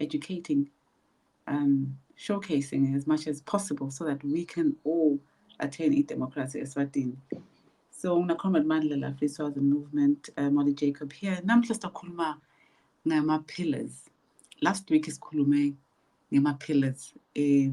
educating, um, showcasing as much as possible so that we can all attain e-democracy eswatini so ngilakhuluma mandla la free swazi movement uh, eh, molly jacob here namhla sizakhuluma ngama-pillars last week sikhulume ngama-pillars um eh,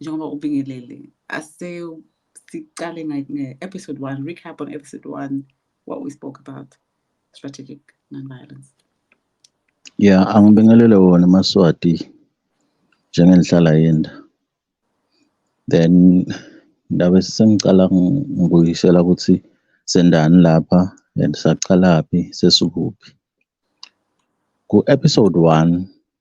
njengoba ubingelele ase siqale nge-episode one recap on episode one what we spoke about strategic non-violence yeah angibingelele wona maswati njengenhlala yenda then ndabe sengicala ngibuyisela ukuthi sendani lapha and saqalaphi sesikuphi ku-episode one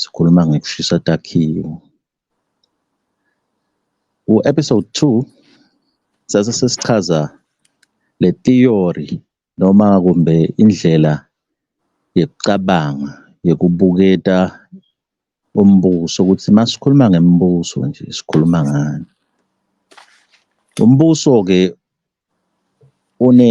Sikhuluma ngekushisa takhiwo. Ku-episode 2 sase sesichaza le theory noma kumbe indlela yokucabanga yokubuketa umbuso ukuthi masikhuluma ngemibuso nje sikhuluma ngani. Umbuso-ke une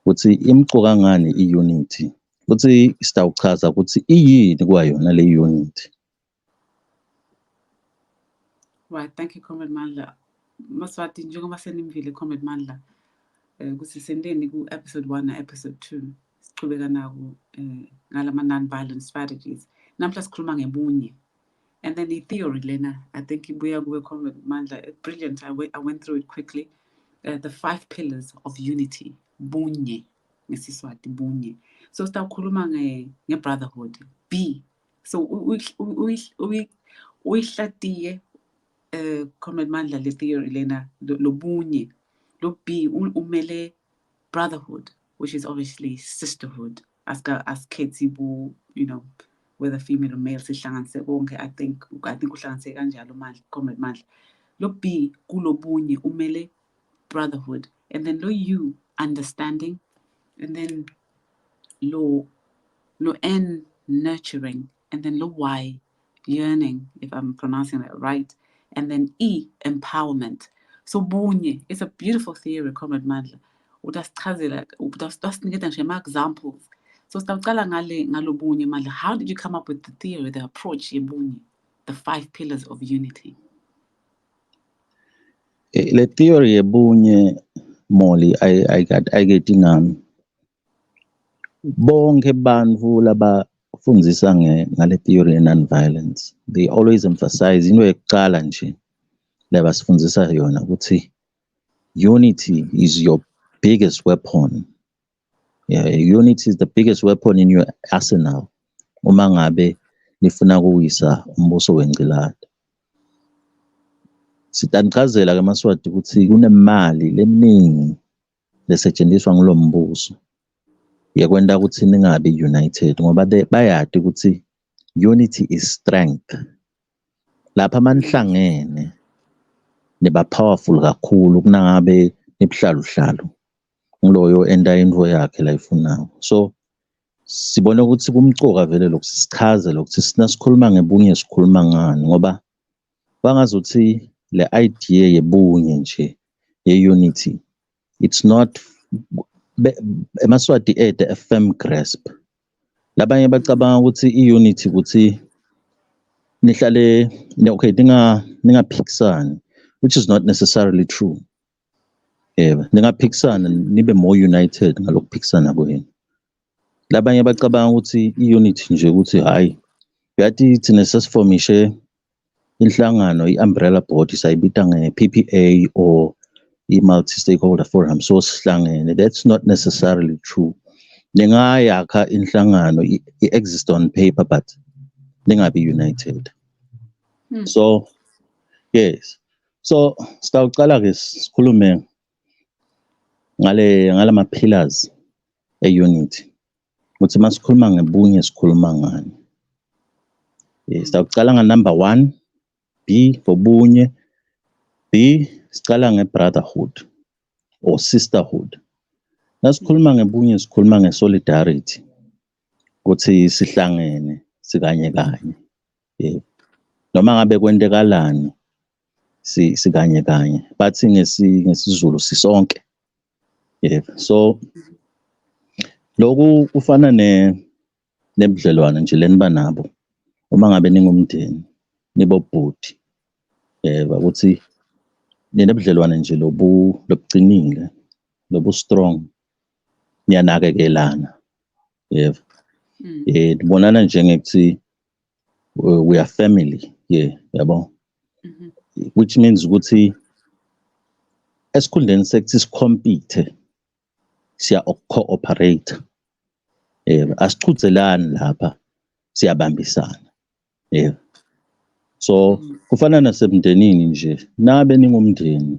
ukuthi imqoka ngani i-unity futhi sitawuchaza ukuthi iyini kwayona le unity right thank you comrade mandla maswati njengoba senimvile comrade mandla um ukuthi senteni ku-episode one na-episode two siqhubeka naku um eh, ngalama-non-violent strategies namhla sikhuluma ngebunye and then i-theory lena i think ibuya kuwe comrade mandla eh, brilliant I, I went through it quickly uh, the five pillars of unity bunye ngesiswati bunye so sitawukhuluma nge-brotherhood b so uyihlatiye um comrade mandla le theory lena lobunye lo b umele brotherhood which is obviously sisterhood aska asikhethi bu you know whether female or male sihlanganise konke i think i think uhlanganise kanjalo mandla comrade mandla lo b kulobunye umele brotherhood and then lo u understanding and then lo lo n nurturing and then lo y yearning if I'm pronouncing that right and then E empowerment so bunye it's a beautiful theory comrade Mandla utasichazela utasiniketa nje ama examples so sitawucala ngale ngalobunye Mandla how did you come up with the theory the approach yebunye the five pillars of unity eh, le theory yebunye Molly ayikade ayikade ingami Bonke bantfu labafundzisa ngale theory ye non-violence, they always emphasize into yekucala nje lebasifundzisa yona ukuthi unity is your biggest weapon. Yeah, unity is the biggest weapon in your arsenal. Uma ngabe nifuna kuwisa umbuso wengcilada. Sitangichazela ke maswati ukuthi kunemali leminingi lesetshenziswa ngulo mbuso yekwenta kutsi ningabi united ngoba bayati kutsi unity is strength lapha manihlangene niba powerful kakhulu kunangabe nibuhlaluhlalu nguloyo enta into yakhe layifunayo so sibone ukuthi kumcoka vele lokhu sichaze lokhu sina sikhuluma ngebunye sikhuluma ngani ngoba bangazothi le idea yebunye nje ye-unity it's not emaswati ede a firm grasp labanye bacabanga ukuthi i-unity ukuthi nihlale okay ninga ningaphikisani which is not necessarily true yebo ningaphikisana nibe more united ngalokuphikisana kwenu labanye bacabanga ukuthi i-unit nje ukuthi hhayi yathi thina sesifomishe inhlangano i-umbrella board sayibita nge-ppa or i-multi-stakeholder forum so sihlangene that's not necessarily true ningayakha inhlangano i-exist on paper but ningabi united hmm. so yes so sitawuqala-ke sikhulume ngale ngalama pillars e-unity ukuthi uma sikhuluma ngebunye sikhuluma ngani eh, sawucala nganumber one b ngobunye b siqala nge-brotherhood or sisterhood nasikhuluma ngebunye sikhuluma nge-solidarity ukuthi sihlangene sikanye kanye eh, noma ngabe kwentekalani si sikanye kanye bathi ngesi ngesizulu sisonke yeah so lokhu kufana ne nebudlelwane nje leniba nabo uma ngabe ningumndeni nibobhuti yeba ukuthi ninebudlelwane nje lobu lobucinile lobu strong niyanakekelana yebo mm. eh nibonana nje ngekuthi uh, we are family yeah yabo mm -hmm. which means ukuthi esikhundleni sekuthi sicompete siya cooperate eh asichudzelani lapha siyabambisana eh so kufana nasemndenini nje nabe ningumndeni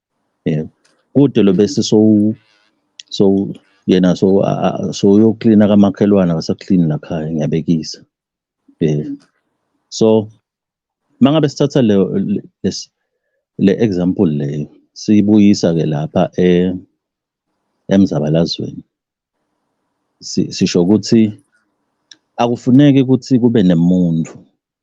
yeah kude lo bese so so yena so so uyoklina kamakhelwane akasaklini la khaya ngiyabekisa yeah so mangabe sithatha le le example leyo siyibuyisa ke lapha e emzabalazweni sisho ukuthi akufuneki ukuthi kube nemuntu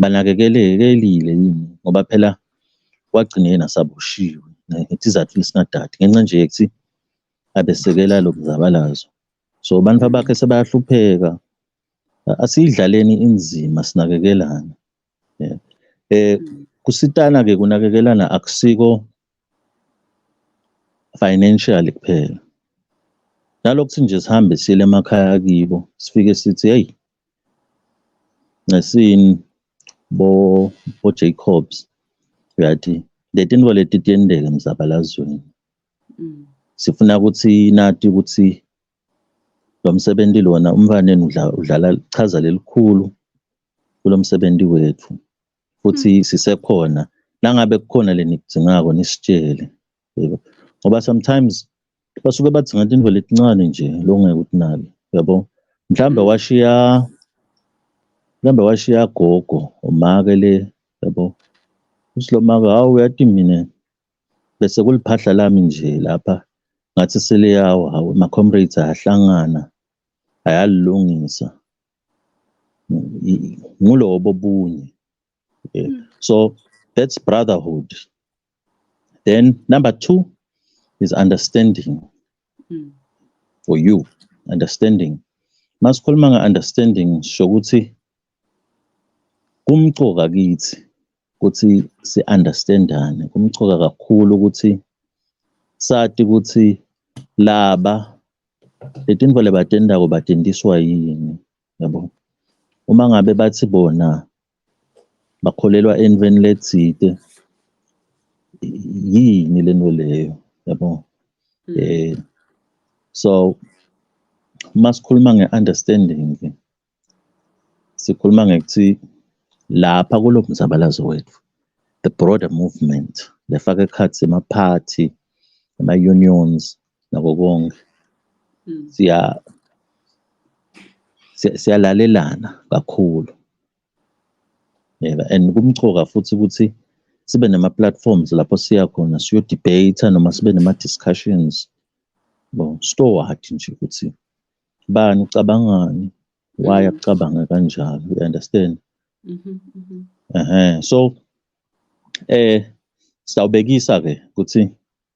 banakekelekile yini ngoba phela wagcina yena saboshiwe ngesizathu esingadadi ngenxa nje yokuthi abesekela lo mzabalazo so abantu abakhe sebayahlupheka asiyidlaleni inzima sinakekelana yeah. eh kusitana ke kunakekelana akusiko financially kuphela nalokuthi nje sihambe sile emakhaya kibo sifike sithi hey ngesini bo bo Jacobs uyathi letinto leti tiyendeka emzabalazweni mm. sifuna ukuthi nati ukuthi lo msebenzi lona umfaneni udlala chaza lelikhulu kulo msebenzi wethu futhi mm. sisekhona nangabe kukhona lenikudzingako nisitshele yebo ngoba sometimes basuke bathi ngathi into letincane nje lokungeke ukuthi nalo yabo mhlambe mm. washiya mhlambe washiya gogo umake le yabo usilomaka hawu uyathi mina bese kuliphahla lami nje lapha ngathi seliyawa hawu ama-comrades ayahlangana ayalilungisa ngulobo bunye mm. so that's brotherhood Then number two is understanding mm. for you, understanding. Masikhuluma nge-understanding sho ukuthi kumcoka kithi ukuthi si-understandane, kumcoka kakhulu ukuthi sati ukuthi laba letintfo lebatentako batendiswa yini yabo uma ngabe bathi bona bakholelwa entweni lethite yini lento leyo yabo hmm. eh so masikhuluma ngeunderstanding sikhuluma ngekuthi lapha kulo mzabalazo wethu the broader movement lefaka ekhathi emaphathi ama-unions nako konke mm. siya siyalalelana kakhulu yeba and kumchoka futhi ukuthi sibe nama platforms lapho siya khona siyo debate noma sibe nama discussions bo stoward nje ukuthi bani ucabangani why mm-hmm. akucabanga kanjalo you understand mhm mhm eh so eh sawubekisa ke ukuthi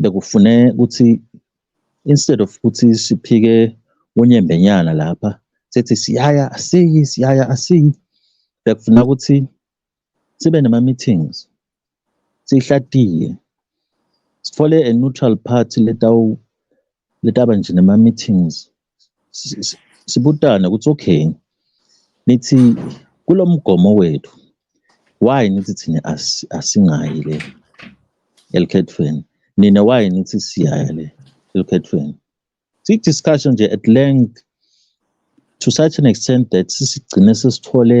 bekufune ukuthi instead of ukuthi siphike unyembenyana lapha sethi siyaya asiyi siyaya asiyi bekufuna ukuthi sibe nama meetings sihlatiye sithole a neutral party letawu letaba nje nama meetings sibutane ukuthi okay nithi kulo mgomo wethu why nithi thina asingayi le elikhethweni nina why nithi siyaya le elikhethweni siyi-discussion nje at length to such an extent that sisigcine sesithole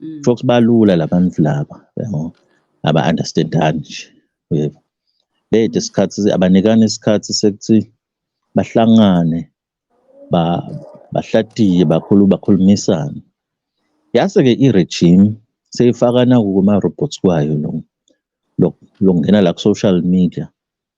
Mm. Folks balula labantu laba yabo aba understandani nje yebo bede isikhathi abanikani isikhathi sekuthi bahlangane ba bahlatiye bakhulu bakhulumisane yase ke i-regime seyifakana kuma robots kwayo lo lokungena la ku social media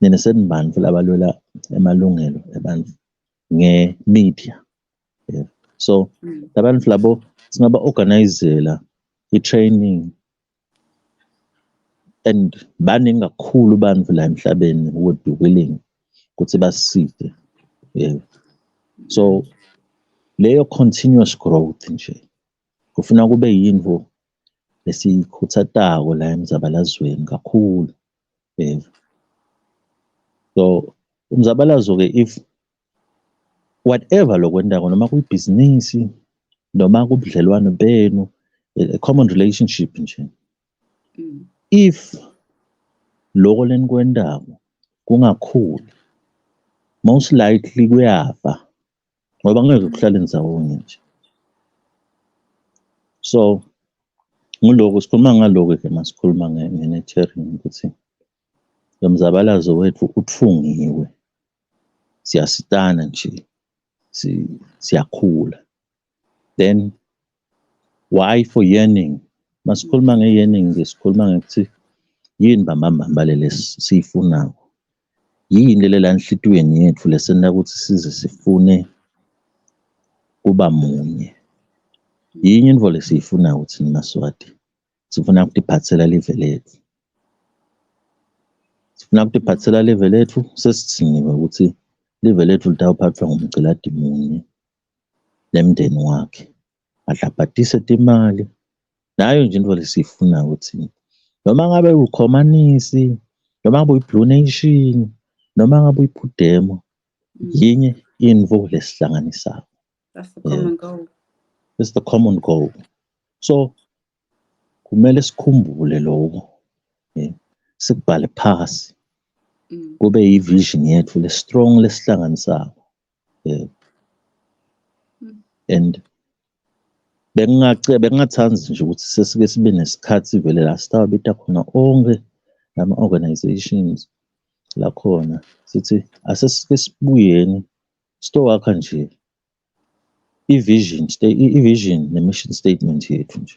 nina senibani futhi abalwela emalungelo abantu nge-media yeah. so mm. labantu mm. labo singaba-organizela i-training and baningi kakhulu bantu la emhlabeni would be willing ukuthi baside yeah. so leyo continuous growth nje kufuna kube yinto lesikhutsatako la emzabalazweni kakhulu um so umzabalazo-ke if whatever lokwentako noma kuyibhizinisi noma kubudlelwano benu a common relationship nje mm. if loko lenikwentako kungakhuli most likely kuyafa ngoba ngeke kuhlale ndizawonye nje so ngiloko sikhuluma ngaloku ke masikhuluma nge-nurturing ukuthi lo mzabalazo wethu utfungiwe siyasitana nje siyakhula then why for yearning masikhuluma nge-yearning nje sikhuluma ngokuthi yini bambambamba leli siyifunayo yini lele la enhlitiyweni yethu lesenta ukuthi size sifune kuba munye yinye into lesiyifuna ukuthi nimaswati sifuna ukutiphathela live lethu sifuna ukutiphathela live lethu sesithiniwe ukuthi live lethu litawuphathwa ngumgciladi munye nemndeni wakhe adlabhadise timali nayo nje into lesiyifuna ukuthi noma ngabe ukhomanisi noma ngabe uyi-blue nation noma ngabe uyiphudemo mm. yinye info lesihlanganisayo it's the common goal so kumele sikhumbule lokho sikubhale phasi mm. kube yi-vision yethu le-strong lesihlanganisayo um and bengingathanda nje ukuthi sesike sibe nesikhathi vele la sitawabita khona onke lama-organizations lakhona sithi asesike sibuyeni sitowakha nje i-vision i-vision ne-mission statement yethu nje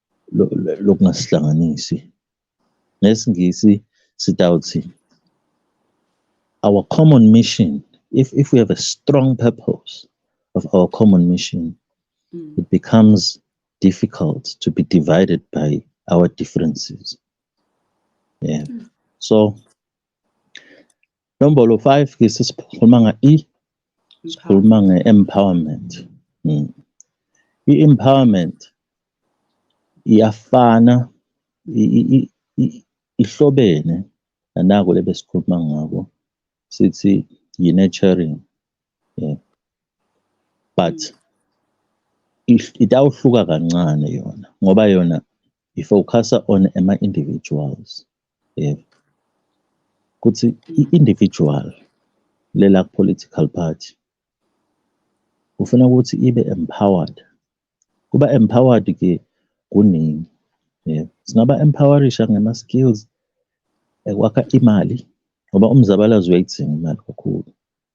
lokungasihlanganisi ngesingisi sitawuthi our common mission if if we have a strong purpose of our common mission mm. it becomes difficult to be divided by our differences yeah mm. so Nombolo 5 ke sisikhuluma nga E sikhuluma nge empowerment. Hmm. I empowerment iyafana ihlobene nanako lebesikhuluma ngako sithi yi nurturing. Yeah. But itawuhluka kancane yona ngoba yona ifocusa on ama-individuals yebo ukuthi i-individual lela political party ufuna ukuthi ibe empowered kuba empowered ke kuningi yebo singaba empowerisha ngama-skills ekwakha imali ngoba umzabalazo uyayidzinga imali kakhulu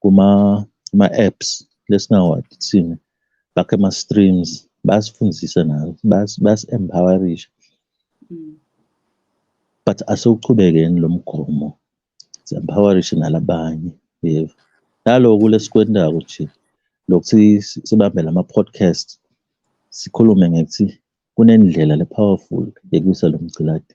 kuma kuma apps lesingawathi thina bakhe ama streams basifundise nayo bas bas empowerisha mm. but asewuchubekeni lomgomo empowerisha nalabanye yebo naloku lesikwendako nje lokuthi sibambe lama podcast sikhulume ngekuthi kunendlela le powerful yekusa lomgciladi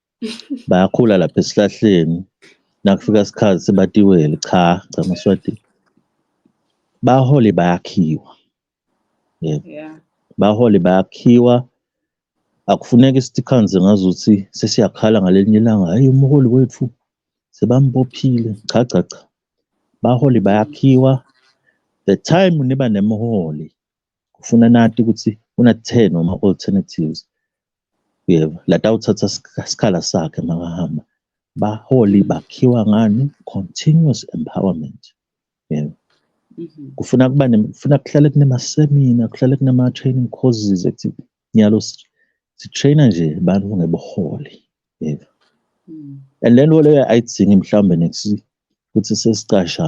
bayakhula lapha esihlahleni nakufika isikhathi sebatiwele cha cha maswati bahole bayakhiwa yebo yeah. bahole bayakhiwa akufuneki isithikhanze ngazuthi sesiyakhala ngalelinye ilanga hayi umholi wethu sebambophile cha cha cha baholi bayakhiwa the time niba nemholi kufuna nati ukuthi unathe noma alternatives yebo latawuthatha sikhala sakhe makahamba baholi bakhiwa ngani continuous empowerment yebo mhm. kufuna kuba kufuna kuhlale kunemasemina kuhlale kunama-training courses ethi nyalo sitraina nje abantu ngebuholi yebo mm. and le nto leyo ayidzingi mhlawumbe next ukuthi sesicasha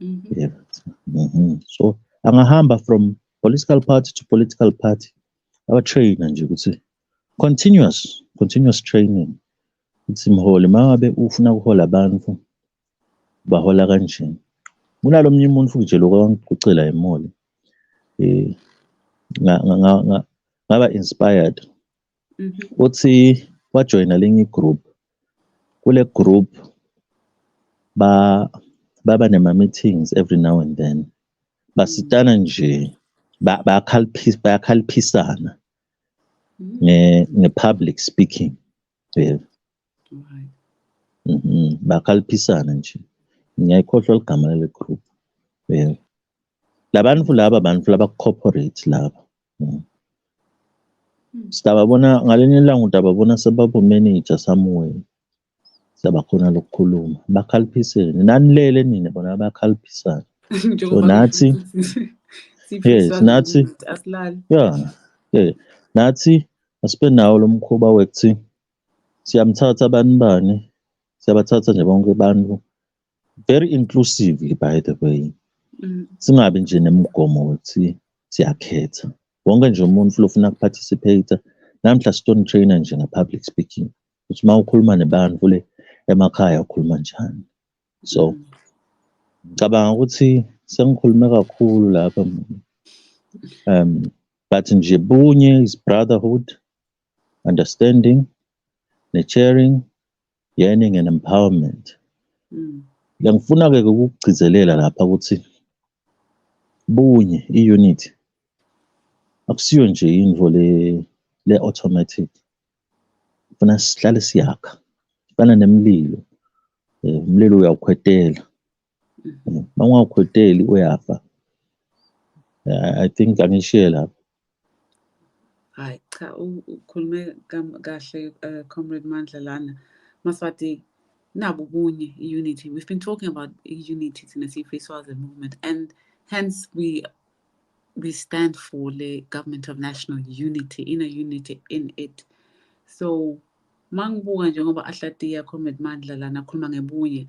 Mm -hmm. yeah. mm -hmm. so angahamba from political party to political party abatraina nje ukuthi continuous continuous training ukuthi mholi mangabe ufuna ukuhola abantu bahola kanjani kunalo mnye umuntu futhi nje lokho angicela imoli eh ngaba inspired uthi wajoyina linye igroup kule group ba baba nema meetings every now and then basitana nje bayakhalphisa bayakhalphisana nge nge public speaking yebo mhm bakhalphisana nje ngiyayikhohlwa ligama lale group yebo labantu laba bantu laba corporate laba Hmm. Hmm. Siyababona ngalenye ilanga utababona sebabumenija somewhere. Siyabakhona lokukhuluma. Bakhaliphiseni. Nanilele nina bona bakhalipisana. So nathi yes nathi asilali. Yeah. Yeah. Nathi asibe nawo lo mkhuba wekuthi siyamthatha bani bani siyabathatha nje bonke abantu very inclusively by the way mm. singabi nje nemigomo ukuthi siyakhetha wonke nje umuntu lofuna kuparticipate namhla stone trainer nje nge-public speaking ukuthi uma ukhuluma nebantu le emakhaya ukhuluma njani so mm. ngicabanga ukuthi sengikhulume kakhulu lapha um but nje bunye is brotherhood understanding ne-sharing Yearning and Empowerment. Mm. Ngiyangifuna-ke ukukugcizelela lapha ukuthi bunye i-unit akusiyo nje into le le-automatic funa sihlale siyakha fana nemlilo eh, umlilo uyawukhwetela Mawungakhweteli uyafa. I think angishiye lapho. Hayi cha ukhulume kahle uh, Comrade Mandla lana. Maswati nabu kunye unity. We've been talking about unity in the Sifiswazi movement and hence we we stand for the government of national unity, inner unity in it. So mangibuka njengoba ahlatiya Comrade Mandla lana akhuluma ngebunye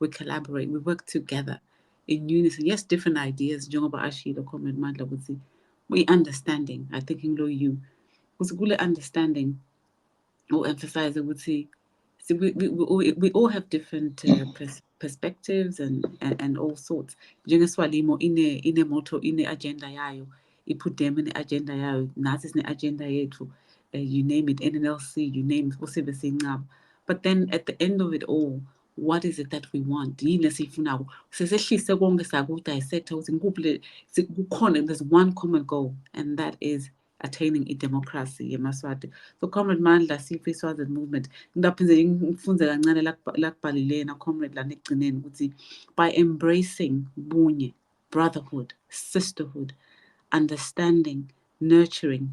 we collaborate we work together in unison yes different ideas njengoba ashilo comrade mandla ukuthi kwi-understanding i think ngilo you ukuthi kule understanding u-emphasize ukuthi see, we, we, we, we all have different uh, pers perspectives and, and, and all sorts njengeswalimo ine-moto ine-agenda yayo ipudem ine-agenda yayo nathi sine-agenda yethu uh, you name it nnlc you name it usibe siyincaba but then at the end of it all what is it that we want yini esiyifunako sesehlise konke sakudissecta ukuthi ngikuphi le kukhona there's one common goal and that is attaining idemocracy yemaswati so comrade mandla sife iswazini movement ngingaphinde ngifunze kancane lakubhalilena comrade lana ekugcineni ukuthi by embracing bunye brotherhood sisterhood understanding nurturing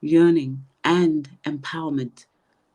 yearning and empowerment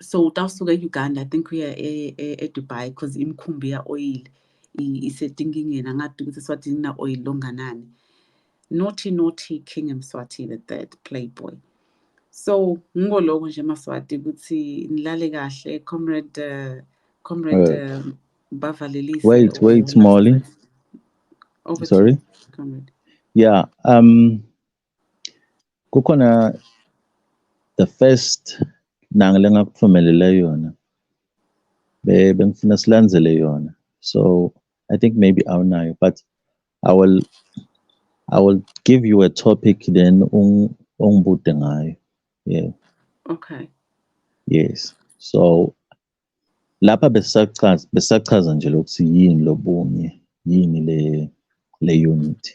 so utawusuka e-uganda i think uya e, e, edubai because imikhumbi ya-oil isetinkingeni angadi ukuthi eswatini na-oil longanani nothi nothi king emswathi the third playboy so ngiko lokho nje maswati ukuthi nilale kahle comrade uh, comrade uh, bavalelise wait wait molly oh, sorry comrade yeah um Kukhona the first nanga lengakuthumelele yona bengifuna silandzele yona so i think maybe awunayo but i will i will give you a topic then ungibute ngayo yeah okay yes so lapha besachaza besachaza nje lokuthi yini lobunye yini le le unity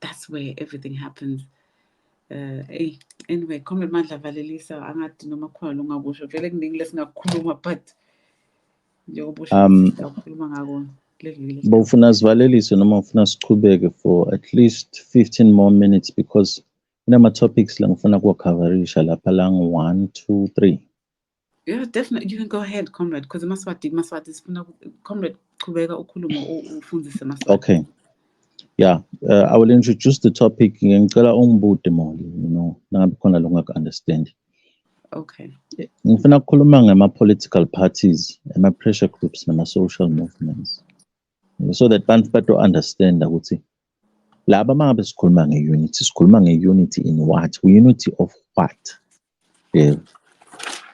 that's where everything happens uh, hey anyway comrade mandla valelisa angathi noma khona longakusho vele kuningi lesingakukhuluma but njengoba ushokhuluma um, ngako ba ufuna sivalelise noma ufuna siqhubeke for at least 15 more minutes because kunama-topics la ngifuna kuwakhaverisha lapha la ngu-one two three Yeah, definitely. You can go ahead, comrade, because Maswati, Maswati is comrade Kubega Ukulumo Ufunzise Maswati. Okay. Yeah, uh, I will introduce the topic. Ngicela ungibute moli, you know, nangabe khona lo ngaka understand. Okay. Ngifuna ukukhuluma ngama political parties, ama pressure groups nama social movements. So that bantu bato understand ukuthi laba mangabe sikhuluma nge unity, sikhuluma nge unity in what? Unity of what? yebo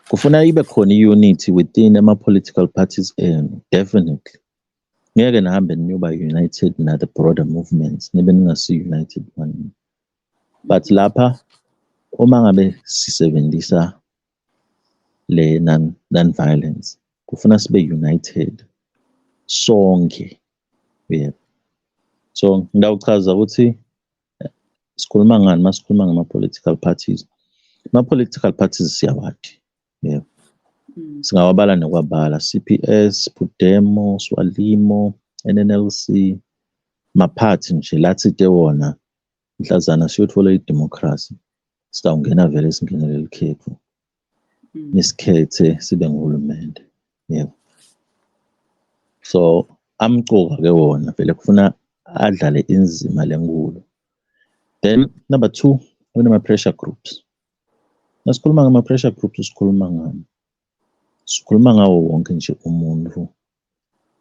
kufuna ibe khona i-unity within ama-political parties enu definitely ngeke nihambe niyoba united na-the broader movements nibe ningasi-united one but lapha uma ngabe sisebenzisa le non-violence kufuna sibe united sonke yebo so ngidawuchaza ukuthi sikhuluma ngani masikhuluma ngama political parties ma political parties siyawathi yebo mm. singawabala nokwabala CPS Pudemo Swalimo NNLC maphathi nje lathi te wona mhlazana siyothola idemocracy sitawungena vele singenele likhethu nisikhethe mm. sibe nguhulumende yebo so amcoka ke wona vele kufuna adlale inzima lenkulu then number two kunama-pressure groups nasikhuluma ngama-pressure groups sikhuluma ngani sikhuluma ngawo wonke nje umuntu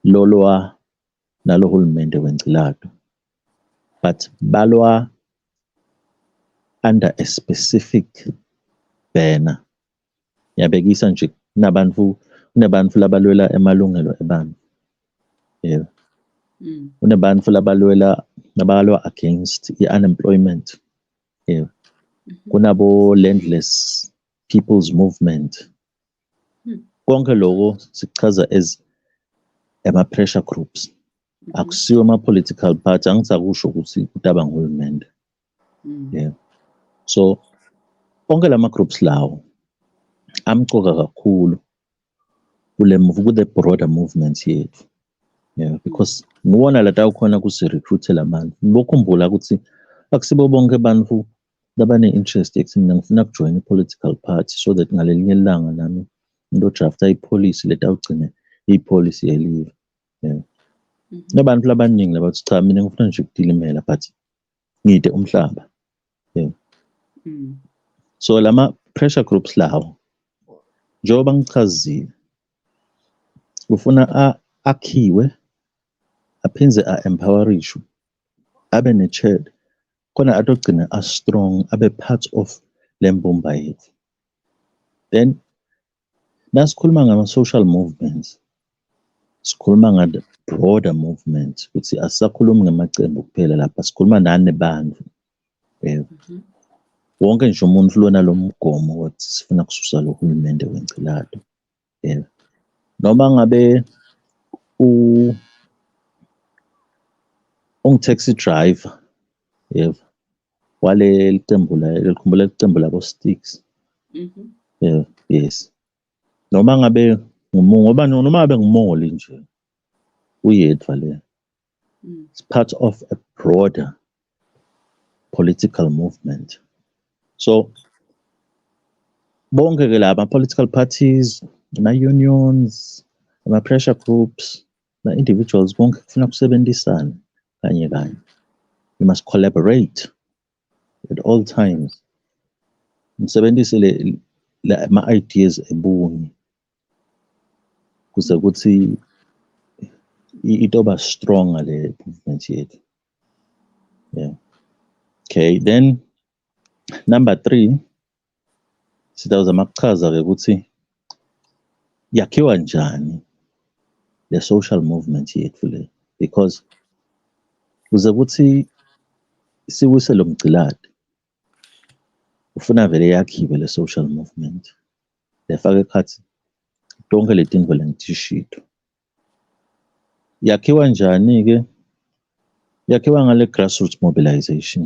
lolwa nalo hulumende wencilato but balwa under a specific banner yabekisa nje kunabantu kunebantu labalwela emalungelo ebantu yeah. mm. kunebantu labalwela labalwa against i-unemployment yeah. mm -hmm. kunabo landless people's movement mm. konke loko sikuchaza as ama-pressure groups akusiwo ama-political party angisakusho ukuthi kutaba nguhulumende mm. yeah. so onke la ma-groups lawo amcoka kakhulu kule ku-the broader movement yethu yeah, because ngiwona lata ukhona kusi-recruite la bantu bokhumbula ukuthi akusibo bonke abantu labane-interest ekuthini mina ngifuna kujoyina i-political party so that ngalelinye ilanga nami ngizodrafta ipolicy letawugcina ipolicy yelive yeah. Mhm. nabantu labaningi labathi cha mina ngifuna nje ukudilimela but ngide umhlaba yeah. mm. so lama pressure groups lawo njengoba ngichazile ufuna akhiwe aphinde a-empowerishu abe ne-chad khona atogcina a-strong abe part of le mbumba yethu then Nasikhuluma ngama-social movements, sikhuluma ngale broader movement ukuthi asisakhulumi ngamacembu kuphela lapha sikhuluma nani bantu eh, mhm. wonke nje umuntu lona lo mgomo wokuthi sifuna kususa lo hulumende wencilado eh, noma ngabe ungu-taxi driver yebo waleli qembu likhumbula iqembu labo Sticks mhm. yeah yes noma ngabe ngumungu ngoba noma ngabe ngumongoli nje uyedwa le mm. it's part of a broader political movement so bonke ke laba political parties ama unions ama pressure groups Now, individuals konke kufuna kusebenzisana kanye kanye. You must collaborate at all times. Nisebenzise le ma ideas ebunye kuze kuthi itoba strong le movement yethu. Yeah. Okay, then number 3 Sitawuzama kuchaza-ke ukuthi yakhiwa njani le social movement yethu le because kuze kuthi siwise lo mgciladi ufuna vele yakhiwe le social movement lefake ekhathi tonke le tinto lengitishito yakhiwa njani-ke yakhiwa ngale grassroots mobilization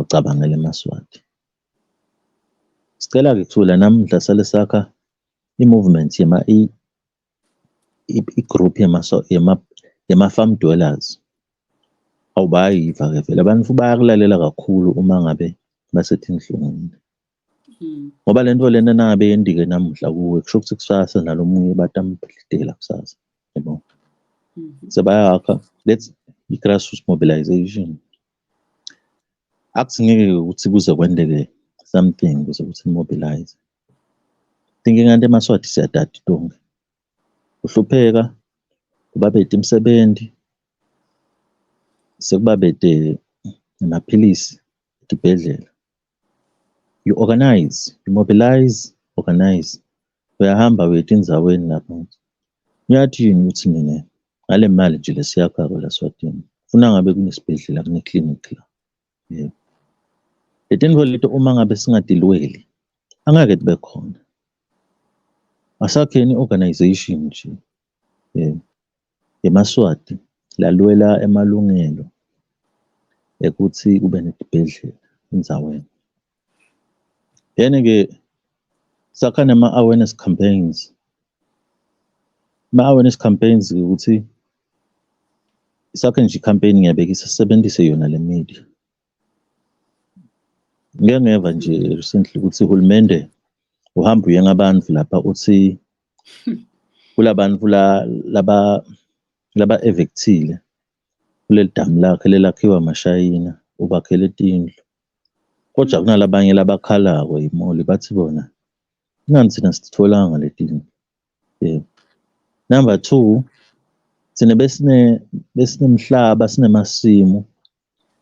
Ucabangele eMaswati. Sicela-ke kuthula namuhla sale sakha i-movement yema i-group yema-farm dwellers. Awu bayayiva-ke vele abantu bayakulalela kakhulu uma ngabe basethinhlungwini. Hmm. Ngoba le nto lena nangabe yendike namuhla kuwe kusho ukuthi kusasa nalo munye batamdidela kusasa. Yabo. Hmm. Sebayakha let's i-grassroots mobilization. Akuthi ngeke ukuthi kuze kwendeke something kuze ukuthi mobilize thinking kanti emaswati siyadada itonga uhlupheka ubabede imisebenzi sekubabede namaphilisi esibhedlela You organize, you mobilize, organize. Uyahamba uye etindzaweni lapho. Uyathi yini ukuthi mina ngale mali nje lesiyakhako la Swatini. Funa ngabe kunesibhedlela kuneclinic la. Yebo. Letintfo leto uma ngabe singatilweli angeke tibe khona. Asakheni organization nje. IMaswati lalwela emalungelo ekuthi kube nesibhedlela endaweni. Then-ke sakha nama-awareness campaigns. Ama-awareness campaigns ukuthi sakhe nje i-campaign ngiyabeka isisebenzise yona le media. ngiyangeva nje recently ukuthi uhulumende uhamba uye ngabantu lapha uthi kulabantu la laba laba evictile kuleli damu lakhe lelakhiwa amashayina ubakhele tindlu kodwa kunalabanye labakhalako yimoli bathi bona ingani thina sitholanga letindlu yeah. number two thina besine besinemhlaba sinemasimu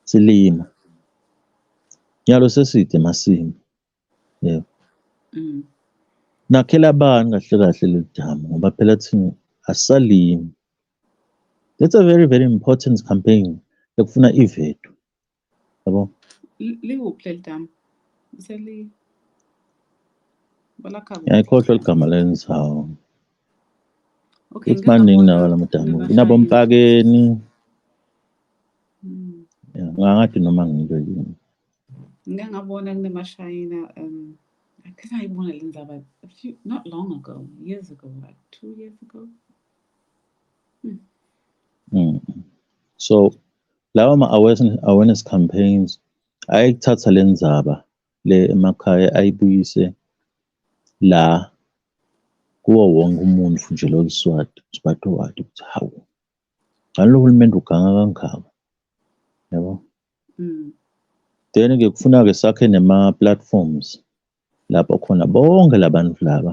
silima nyalo seside masimu yeah. mm. nakhela bani kahle kahle leli damu ngoba phela thina asalimi that's a very very important campaign ekufuna ivethu Yabo. Likuphi leli damu? Seli balakha kuphi? Ngiyayikhohlwa ligama lenzawo. Okay, It's maningi ngingabona nawo la madamu. bebashayela. Kunabompakeni. Mm. Ya, Ngangathi noma ngilo yini. Ngike ngabona kunemashayina um I think ayibona le ndaba a few not long ago, years ago, like two years ago. Mm. So Lawa ma-awareness campaigns ayekuthatha le ndzaba le emakhaya ayibuyise la kuwo wonke umuntu nje lo Swati uSwati wati ukuthi hawu ngani lo hulumende uganga kangaka yabo mm. then ke kufuna-ke sakhe nema-platforms lapho khona bonke labantu laba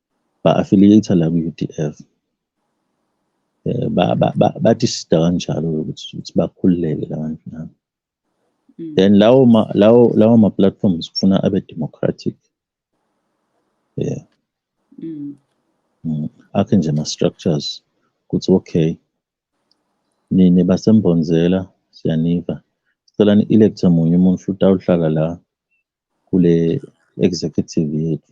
ba-affiliate la ku-UDF eh, bathi sida kanjalo ukuthi bakhululeke labantu nabo mm. then lawo ma lawo lawo ma platforms kufuna abe democratic yeah mm. mm. akhe nje ma structures ukuthi okay nini basembonzela siyaniva sicela ni-electhe munye umuntu futhi awuhlala la kule executive yethu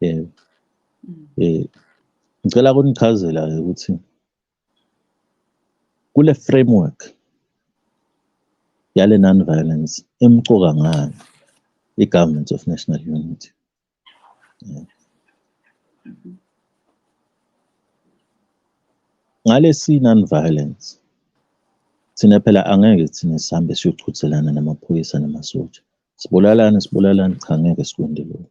yebo mm. eh ngicela kunichazela ke ukuthi kule framework yale non-violence emcoka ngani i-government of national unity yeah. Mm-hmm. ngalesi non-violence thina phela angeke thina sihambe siyochuthelana namaphoyisa namasotsha sibulalane sibulalane cha ngeke sikwende lokho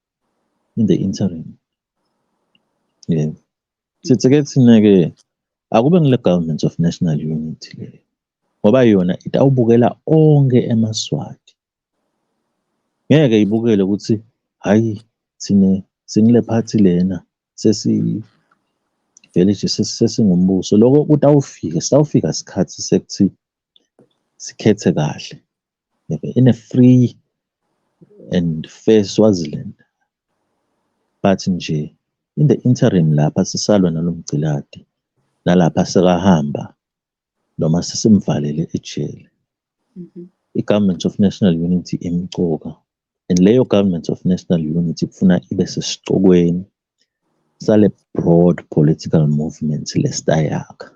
in the interim yes sithi ke thina-ke akube ngile government of national unity leyo ngoba yona itawubukela onke emaswati ngeke ibukele ukuthi hhayi thina singile phathi lena sesi vele nje sesingumbuso loko kutawufika sitawufika sikhathi sekuthi sikhethe kahle in a free and fair Swaziland but nje in the interim lapha sisalwa nalomgciladi nalapha sekahamba noma sesimvalele ejele mm-hmm. i-government of national unity imcoka and leyo government of national unity kufuna ibe sesicokweni sale broad political movement lesitayaka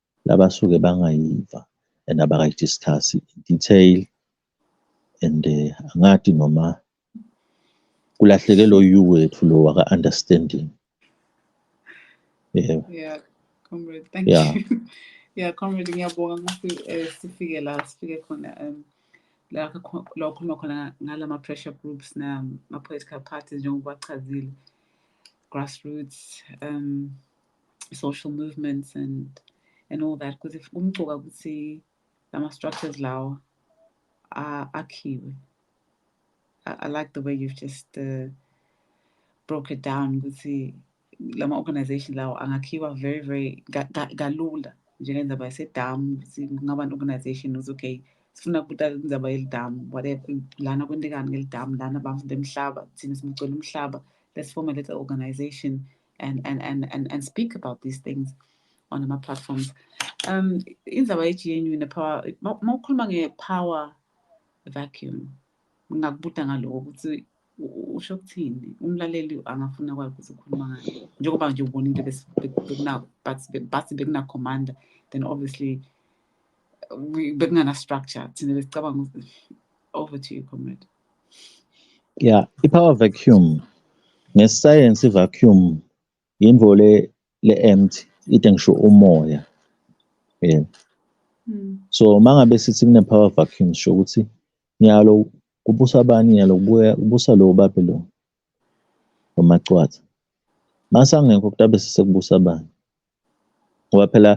Labasuke bangayiva and abakayi-discuss in detail and eh, angati noma kulahleke lo you wethu lo waka-understanding yebo yeah comrade thank yeah. you yeah comrade ngiyabonga ngokuthi um eh, sifike la sifike khona um la ukhuluma khona ngala ma-pressure groups nama-political parties njengoba achazile grassroots um social movements and and all that because if umcuka ukuthi lama structures lawa akhiwe I, I like the way you've just uh, broke it down ukuthi lama organization lawo angakhiwa very very kalula njengendaba yasedamu ukuthi kungaba ne-organization ukuthi okay sifuna kubuta indaba yelidamu whatever lana kwentekani ngelidamu lana bamfunda emhlaba thina simcela umhlaba let's form a little organization and, and, and, and, and speak about these things on my platforms um indaba ye-gnu ne-power uma ukhuluma nge-power vacuum ngingakubuda ngaloko ukuthi usho ukuthini umlaleli angafuna kwayo ukuthi ukhuluma ngayo njengoba nje ubona into bathi bekuna-commander then obviously bekungana-structure thina besicabanga ukuthi over to you comrade ya i-power vacuum ngesayensi i-vacuum yinto le le-empty ite ngisho umoya um so uma ngabe sithi kune-power vacuum sisho ukuthi nyalo kubusa abani nyalo kubuya kubusa lo babe lo nomacwatha masangekho kutabe sesekubusa abani ngoba phela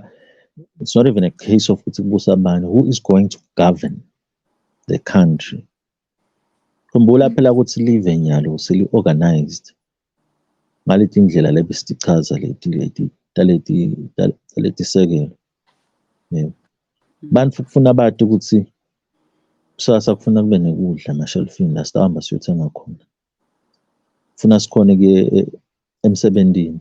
it's not even a case of ukuthi kubusa bani who is going to govern the country khumbula phela ukuthi live nyalo seli-organized ngaleti indlela lebe sitichaza leti leti taleti taleti sekelo yebo bantu kufuna bati ukuthi kusasa kufuna kube nekudla emashelfini la sitahamba siyothenga khona kufuna sikhone kuye e, emsebenzini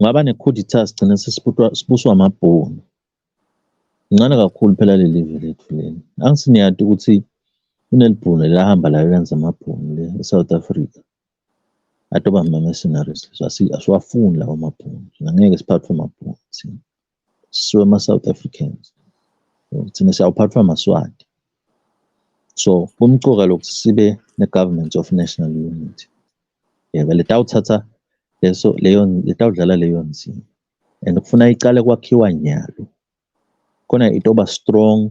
ngaba nekhuditha sigcine sibuswa amabhunu incane kakhulu phela leli ve lethu leli angisi niyati ukuthi kunelibhunu elahamba layo lenza amabhunu le e-south africa atoba mama scenaries asiwafuni lawo mabhunu ngeke siphathwe amabhunu thina siwe ama South Africans thina siyawuphathwa maswati so kumcoka lokuthi sibe ne government of national unity yebo letawuthatha leso leyo letawudlala leyo nzima and kufuna icale kwakhiwa nyalo khona itoba strong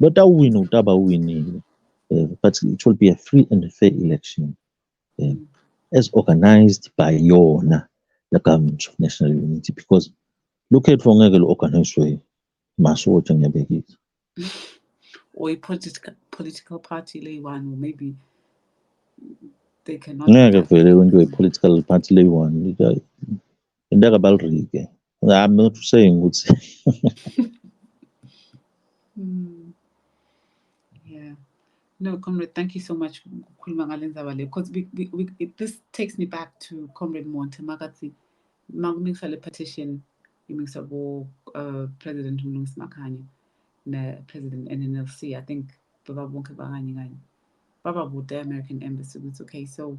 Lotawuwina utaba uwinile. Uh, but it will be a free and fair election uh, as organized by yona the government of national unity because look at ngeke lu-organizwe masotsha ngiyabekisa or i-political political party leyi-one or maybe they cannot ngeke vele into ye-political party leyi-one Into kabalrike. I'm not saying ukuthi Mm. Yeah. No, comrade, thank you so much ukukhuluma ngale ndaba le because we, we, we, it, this takes me back to comrade Monte makathi makumikisa le petition imikisa bo uh, president uMlungisi Makhanya ne president NNLC I think baba bonke bakanye kanye baba bude American embassy ukuthi okay so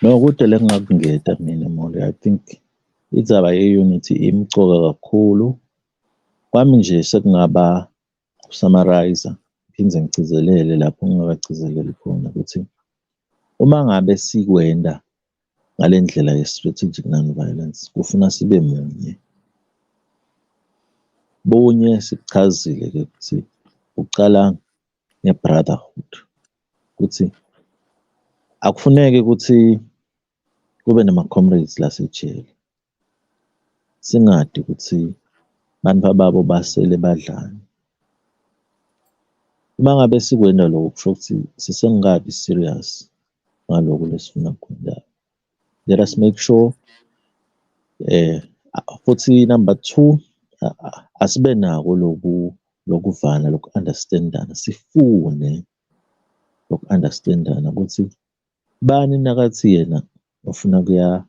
No, kude le ngingakungeda mina Moli. I think indaba ye-unity imcoka kakhulu. Kwami nje sekungaba ukusamarayza, ngiphinde ngigcizelele lapho ngingakagcizeleli khona ukuthi uma ngabe sikwenda ngale ndlela ye-strategic non-violence kufuna sibe munye. Bunye sikuchazile-ke ukuthi ucala ngebrotherhood ukuthi akufuneki ukuthi kube nama-comrades lasejele singadi ukuthi abantu ababo basele badlani uma ngabe sikwenda lokho kusho ukuthi sisengikabi serious ngaloku lesifuna kukwenza let us make sure eh futhi number 2 asibe nako loku lokuvana loku understandana sifune loku understandana ukuthi bani nakathi yena ufuna kuya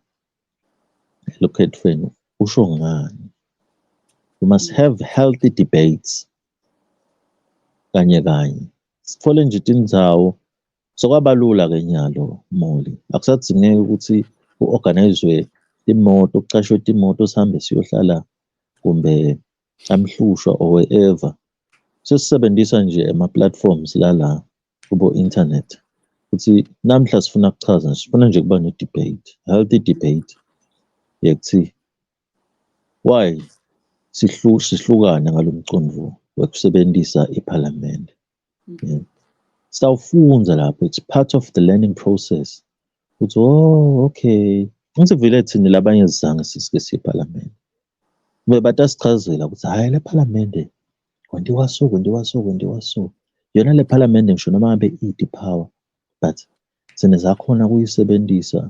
elokhethweni usho ngani we must have healthy debates kanye kanye sithole nje tindzawo Sokwabalula ke nyalo Moli. Akusadzingeki ukuthi uorganizwe imoto, kucashwe imoto sihambe siyohlala kumbe amhlushwa or wherever. Sesisebenzisa nje ama platforms lala kubo internet. Ukuthi namhla sifuna kuchaza, sifuna nje kuba ne debate, healthy debate. Yekuthi why sihlu sihlukana ngalomcondvo wekusebenzisa iPhalamende. Okay. Sawufunza lapho it's part of the learning process. Uthi oh okay. Ngisivile thina labanye sizange sisike siyePhalamende. Bebata sichazela ukuthi hayi lePhalamende kwendiwa so kwendiwa so kwendiwa so. Yona lePhalamende ngisho noma ngabe i-depower but sine zakhona kuyisebenzisa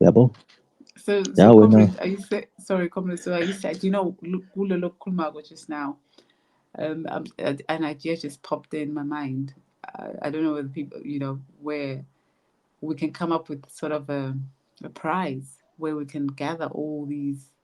yabo so, so yeah, comrade, are you say, sorry comrade so are you said you know kulo lokukhulumako just now um, um an idea just popped in my mind I, I don't know whether people you know where we can come up with sort of a, a prize where we can gather all these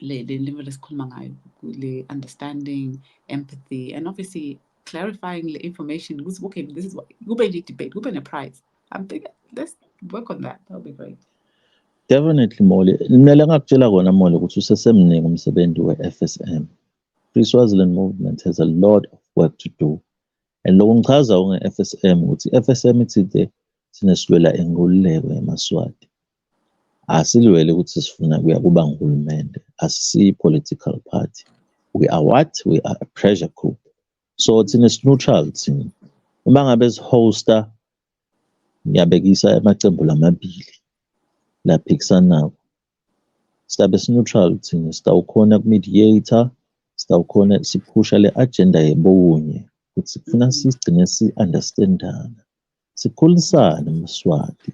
le le level esikhuluma ngayo le understanding empathy and obviously clarifying the information ukuthi okay this is what kube ne debate kube ne prize i'm thinking let's work on that that would be great definitely moli kumele ngakutshela kona moli ukuthi usesemningi umsebenzi we-fsm free swaziland movement has a lot of work to do and lokho ngichaza nge-fsm ukuthi i-fsm ithi the sinesilwela inkululeko yamaswati Asilwele ukuthi sifuna kuya kuba nguhulumende. Asisiyi-political party. We are what? We are a pressure group. So thina si-neutral thina. Uma ngabe si-hosta, ngiyabekisa amaqembu lamabili laphikisanako. Sizabe si-neutral thina. Sitawukhona ku-mediator, sitawukhona siphusha le-agenda yebowunye ukuthi kufuna sigcine si-understand-ana. sikhulisane mswati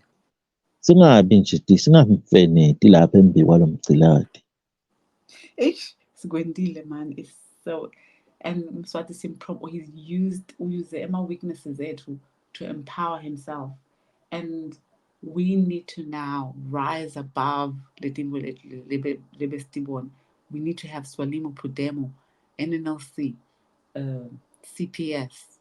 singabi nje singamfeneti lapha embi kwalo mgciladi eish sikwendile man is so and mswati simprom he's used uyuse ama-weaknesses ethu to empower himself and we need to now rise above letimbo lebesitibona we need to have swalimo pudemo nnlc uh, cps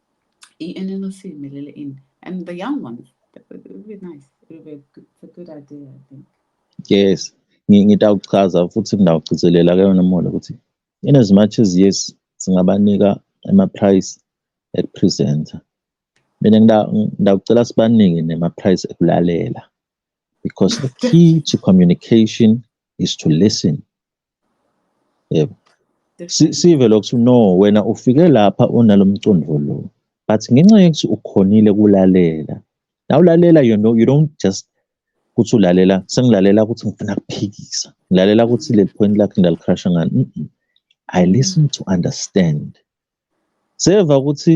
i-NLC imelele ini and the young ones it would be nice it would be a good, a good idea i think yes ngitawuchaza futhi ngidawugcizelela ke yona mona ukuthi in as much as yes singabanika ama-price ekupresenta mina ngidawucela sibanike nema-price ekulalela because the key to communication is to listen yebo sive lokuthi no wena ufike lapha unalomcondvo lo but ngenxa yokuthi ukhonile kulalela nawulalela you know you don't just ukuthi ulalela sengilalela ukuthi ngifuna kuphikisa ngilalela ukuthi leli point lakhe ngalikrasha ngani i listen to understand seva ukuthi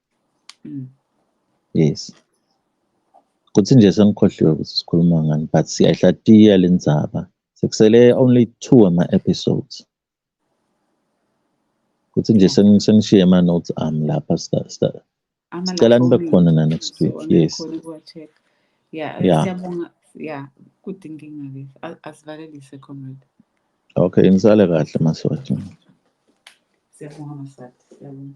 mm. yes kuthi nje sengikhohliwe ukuthi sikhuluma ngani but siyayihlatiya le ndzaba sekusele only two ama-episodes kuthi nje sengishiye ama-notes ami lapha sicela nibe khona na next week yes yeah, yeah. siyabonga yeah kudinga ingabe asivalelise comrade Okay, nisale kahle masotsha. Siyabonga Maswati. Siyabonga.